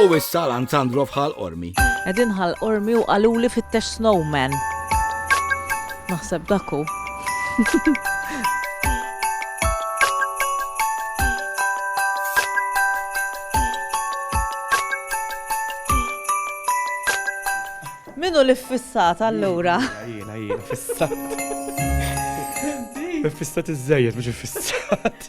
U issa l-Anzandro fħal Ormi. Edin ħal Ormi u għaluli fit-tex Snowman. Naħseb daku. Minu li fissat allura? Jina, jina, fissat. Fissat iż-żejjed, mux fissat.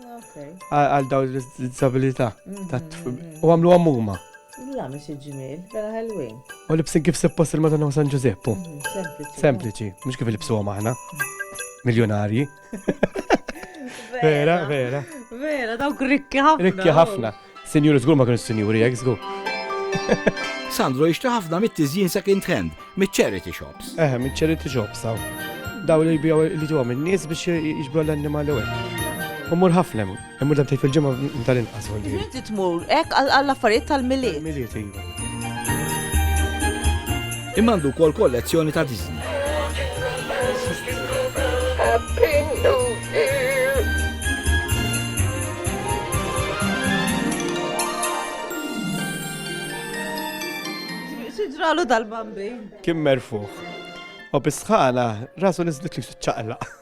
Għal daw l-disabilità. U għamlu għamuma. La, mis ġimil, vera ħelwin. U libsin kif seppost il-Madonna u San Ġuzeppu. Mhm, sempliċi, mux kif libsu għom aħna. Miljonarji. Vera, vera. Vera, dawk rikki ħafna. Rikki ħafna. Sinjuri żgur ma kienux sinjuri hekk żgur. Sandro jixtri ħafna mit-tiżjin second hand, mit-charity shops. Eħe, mit-charity shops hawn. Daw li jbijaw li ġewhom in-nies biex jiġbru l-annimali u hekk. Umur ħafna hemm, hemm dan fil-ġimgħa tal-inqas. Inti tmur hekk għall-affarijiet tal-miliet. Miliet, iva. Imma għandu wkoll kollezzjoni ta' Disney. X'ġralu dal-bambin? Kien merfugħ. U bis-sħana rasu niżlet li ċaqlaq.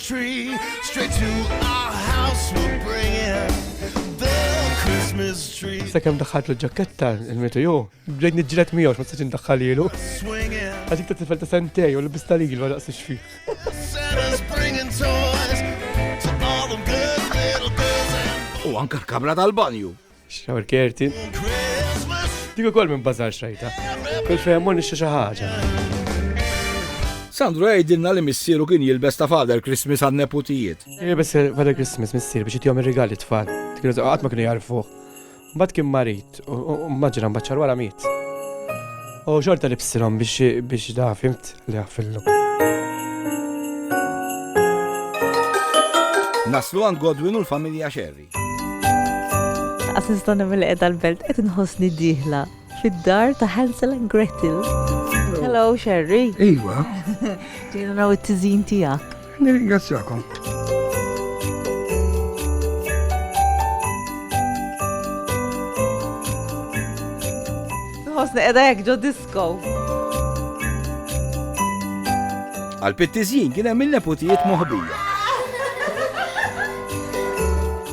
Tree, straight to our house we'll bring it. The Christmas tree. Sakemm daħħalt l-ġaketta il-mitu ju, bdejt niġġilet miegħu ma tistax indaħħal ilu. Għaxik ta' tifel ta' sentej u l-bista li għal daqs xfi. U anka l-kamra tal-banju. Xawr kerti. Dik ukoll minn bazar xrajta. Kull fejn mor nixtri xi ħaġa. Sandro jgħidilna li missieru kien jilbes ta' Father Christmas għan neputijiet. Jilbes Father Christmas missier biex jitjom ir-rigali tfal. Kienu qatt ma kienu jarfu. Mbagħad kien marit u maġra mbagħad wara miet. U xorta li bsilhom biex da fimt li għafillu. Naslu għand Godwin u l-familja Sherry. Għas nista' nagħmel li qiegħda l-belt qed inħossni dieħla fid-dar ta' Hansel and Gretel. Hello, Sherry. Iva. Ġejna naraw it-tiżin tiegħek. Nirringrazzjakom. Ħosni qiegħda hekk ġoddi Go. Għal pittizjin kien hemm il-neputijiet moħbija.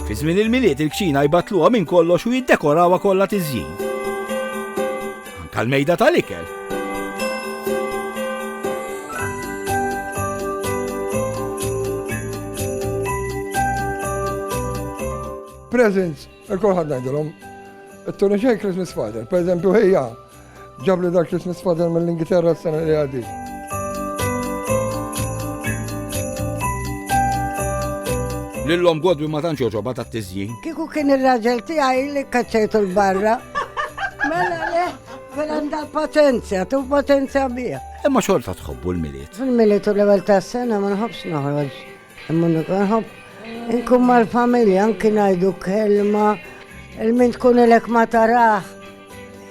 Fi żmien il-miliet il-kċina jbatluha minn kollox u jiddekorawha kollha tiżjin. Anka l-mejda tal-ikel. Presents Il-kol ħad ngħidilhom, it-Tony J Christmas Father, per eżempju ħejja, ġab li dak Christmas Father mill-Ingilterra s-sena li għaddi. Lillom godwi ma tantx joġoba ta' tiżjin. Kiku kien ir-raġel tiegħi li kaċċejtu l-barra. Mela le, mela għandha potenzja, tu potenzja bija. Imma xorta tħobbu l-miliet. Fil-miliet u l-ewwel tas-sena ma nħobbx noħroġ. Imma nikun nħobb inkun mal-familja anki ngħidu kelma il-min tkun ilek ma taraħ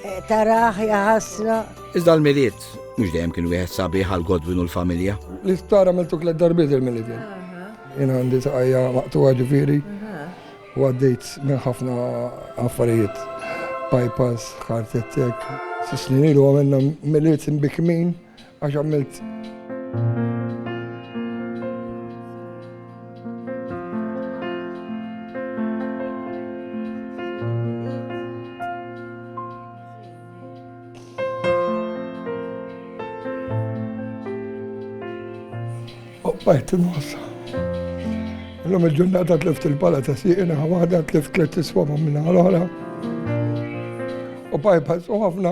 eh, taraħ jaħasra. Iżda l-miliet mhux dejjem kien wieħed sabiħ għal Godwin u l-familja. L-isptar għamiltu tliet darbiet il-miliet. Jien għandi saqajja maqtuha ġifieri u għaddejt minn ħafna affarijiet. Bypass, ħartettek. Sisnin ilu għamilna miliet imbikmin Għax għamilt. Bajt il-mossa. L-lum il-ġurnata tlift il-pala ta' siqina, għada tlift tlift iswama minna għal-ħala. U bypass u ħafna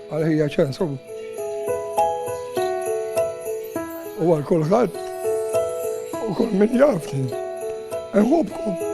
Għal ħija ċens u għal kulħadd u kull min jafni. Eħobkom.